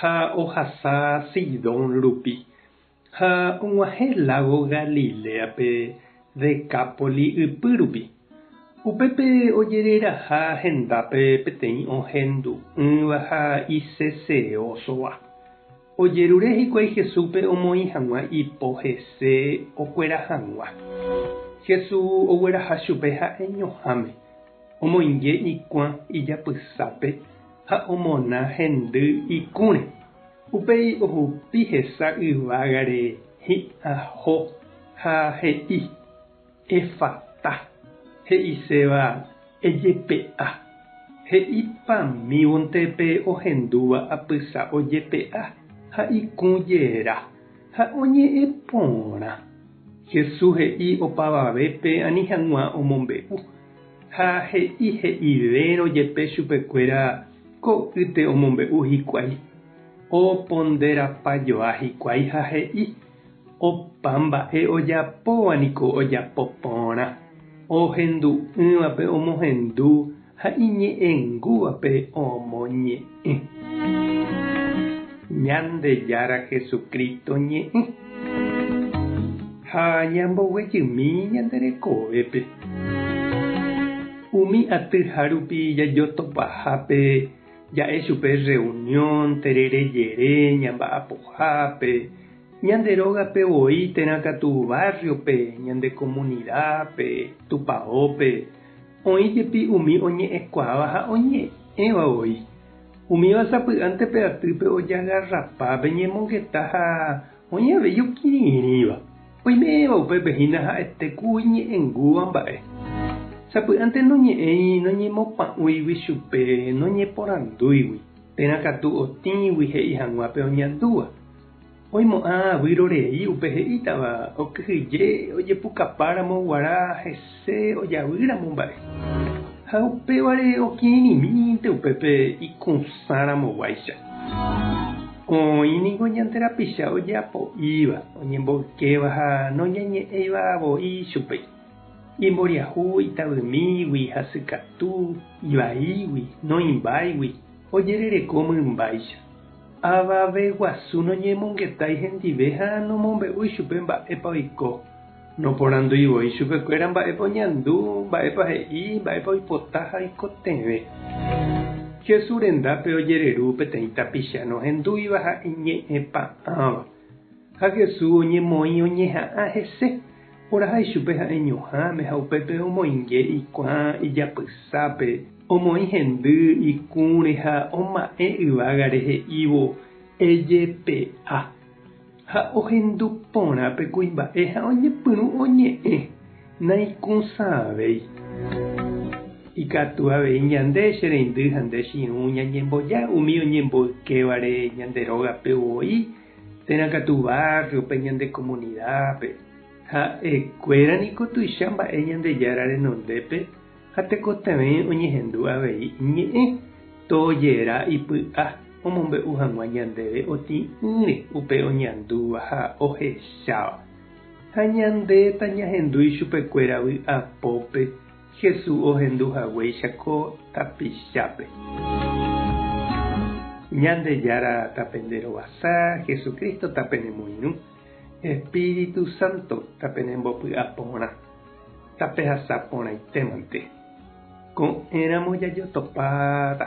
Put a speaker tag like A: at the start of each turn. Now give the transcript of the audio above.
A: Ha ohasa Sidón rupi, ha og̃uahẽ lágo Galiléape Decápoli ypy rupi. Upépe ojereraha hendápe peteĩ ohendu'ỹva ha iseseósova. Ojerure hikuái Jesúspe omoĩ hag̃ua ipo hese okuera hag̃ua. Jesús ogueraha chupe ha'eñoháme, omoinge ikuã ijapysápe, Ha omona hendy ikũre. Upéi ohupi hesa yvágare hi'ãho ha he'i, Effatá, he'iséva, Ejepe'a. He'ipamívonte pe ohendúva apysa ojepe'a ha ikũ jera, ha oñe'ẽ porã. Jesús he'i opavavépe ani hag̃ua omombe'u Ha he'i he'ivérõ jepe chupekuéra ko'ýte omombe'u hikuái, oponderapa joa hikuái ha he'i, Opa mba'e ojapóva niko ojapo porã, ohendu'ỹvape omohendu ha iñe'ẽngúvape omoñe'ẽ. Ñandejára Jesucristo ñe'ẽ ha ñamboguejymi ñande rekovépe. Umi aty ha rupi jajotopaha pe ja'e chupe reunión terere jere ñamba'apohápe, ñande rógape voi térã katu barrio pe, ñande comunidad pe, Tupaópe, Oĩ jepi umi oñe'ẽkuaáva ha oñe'ẽva voi. Umíva sapy'ánte pe atýpe ojagarrapa, pe ñemongeta ha oĩ avei okirirĩva. Oiméva upépe hína ha'ete ku iñe'ẽngúva mba'e. Sapy'ánte noñe'ẽi noñemopa'ũigui chupe, noñeporandúigui, térã katu otĩgui he'i hag̃ua pe oñandúva. Oimo'ã vyrorei upe he'ítava okyhyje ojepukapáramo guarã hese ojavýramo mba'e. Ha upévare okirirĩmínte upépe ikũsãramoguáicha. Oĩ ningo ñande rapicha ojeapo'íva, oñemboykéva ha noñañe'ẽiva voi chupe. Imboriahu, itavymígui, hasykatu, ivaígui, noĩmbáigui, ojerereko mymbáicha. Avave guasu noñemongetái hendive ha nomombe'úi chupe mba'épa oiko. Noporandúi voi chupekuéra mba'épa oñandu, mba'épa he'i, mba'épa oipota ha oikotevẽ. Jesús rendápe ojereru peteĩ tapicha nohendúiva ha iñe'ẽpa'ãva. Ha Jesús oñemoĩ oñeha'ã hese. Oraha ichupe ha'e ñuhãme ha upépe omoinge ikuã ijapysápe, omoĩ hendy ikũre ha oma'ẽ yvágare he'ívo, Ejepe'a. Ha ohendu porã pe kuimba'e ha oñepyrũ oñe'ẽ, Naikũsãvéi. Ikatu avei ñande, che reindy ha nde chirũ, ñañemboja umi oñemboykévare ñande rógape voi, Térã katu bárriope, ñande komunidápe. Ha'ekuéra niko tuicha mba'e Ñandejára renondépe ha tekotevẽ oñehendu avei Iñe'ẽ tojeera ipy'a omombe'u hag̃ua ñandéve otĩ'ỹre upe oñandúva ha ohecháva. Ha ñandéta ñahendu ichupekuéra vy'a pópe Jesús ohendu haguéicha ko tapichápe. Ñandejára ta pende rovasa, Jesucristo ta pene moirũ, Espíritu Santo ta pene mbopy'a porã, ta pehasa porãitémante. Ko'ẽ ramo jajotopáta.